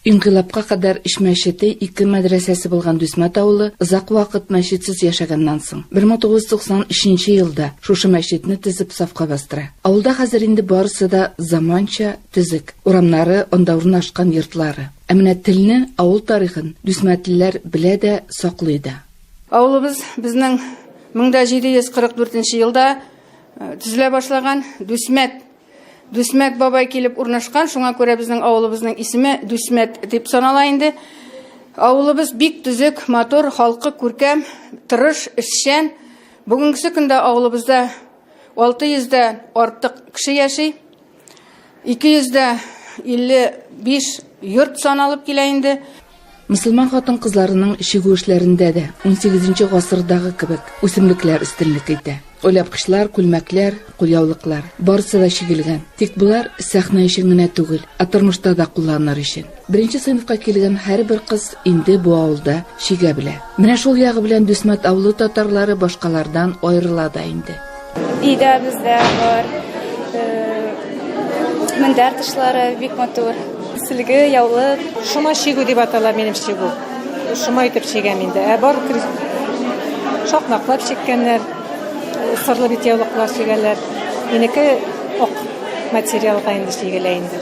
Инкыйлабка кадәр эш мәчете ике мәдрәсәсе булган Дүсмәт авылы озак вакыт мәчетсез яшәгәннән соң, 1993 елда шушы мәчетне төзеп сафка бастыра. Авылда хәзер инде барысы да заманча, төзек. Урамнары, анда урнашкан йортлары. Ә менә телне, авыл тарихын дүсмәтлеләр белә дә, саклый да. Авылыбыз безнең 1744 елда төзелә башлаган Дүсмәт Дүсмәт бабай килеп урнашкан, шуңа күрә безнең авылыбызның исеме Дүсмәт дип санала инде. Авылыбыз бик төзек, матур, халкы күркәм, тырыш, эшчән. Бүгенгесе көндә авылыбызда 600 дә артык кеше яши. 200 дә 55 йорт саналып килә инде. Мөселман хатын-кызларының чигү эшләрендә дә унсигезенче гасырдагы кебек үсемлекләр өстенлек итә. Оляпкычлар, күлмәкләр, кулъяулыклар, барысы да чигелгән. Тик болар сәхнә өчен генә түгел, ә тормышта да кулланыр өчен. Беренче сыйныфка килгән һәрбер кыз инде бу авылда чигә белә. Менә шул ягы белән Дүсмәт авылы татарлары башкалардан аерыла да инде. Өйдә бездә бар мендәр тышлары бик матур. Сөлге, яулык. Шома чигү дип атала минем чигү. Шома итеп чигәм инде. Ә бар шакмаклап чиккәннәр, сырлы бит яулыклар чигәләр. Минеке ок материалга инде чигелә инде.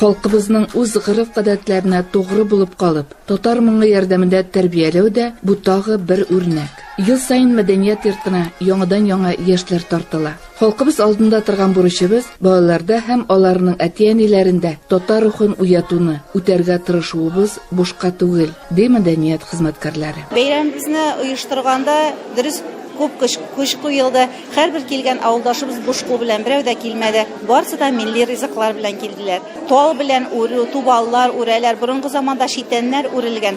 Халкыбызның үз гореф-гадәтләренә тугры булып калып, татар моңы ярдәмендә тәрбияләү дә бу тагы бер үрнәк. Ел саен мәдәният йортына яңадан-яңа яшьләр тартыла. Халкыбыз алдында торган бурычыбыз, балаларда һәм аларның әти-әниләрендә татар рухын уятуны, үтәргә тырышуыбыз бушка түгел, ди мәдәният хезмәткәрләре. Бәйрәмебезне оештырганда, дөрес, күп көч көч куелды. Һәрбер килгән авылдашыбыз буш кул белән берәү дә килмәде. Барысы да милли ризыклар белән килделәр. Тал белән үрү, тубаллар үрәләр, борынгы заманда читәннәр үрелгән.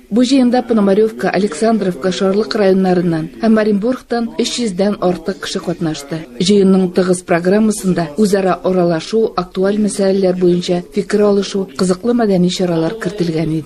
Бу җыенда Пономаревка, Александровка, Шарлык районнарыннан һәм Оренбургтан 300 дән артык кеше катнашты. Җыенның тыгыз программасында үзара аралашу, актуаль мәсьәләләр буенча фикер алышу, кызыклы мәдәни чаралар кертелгән иде.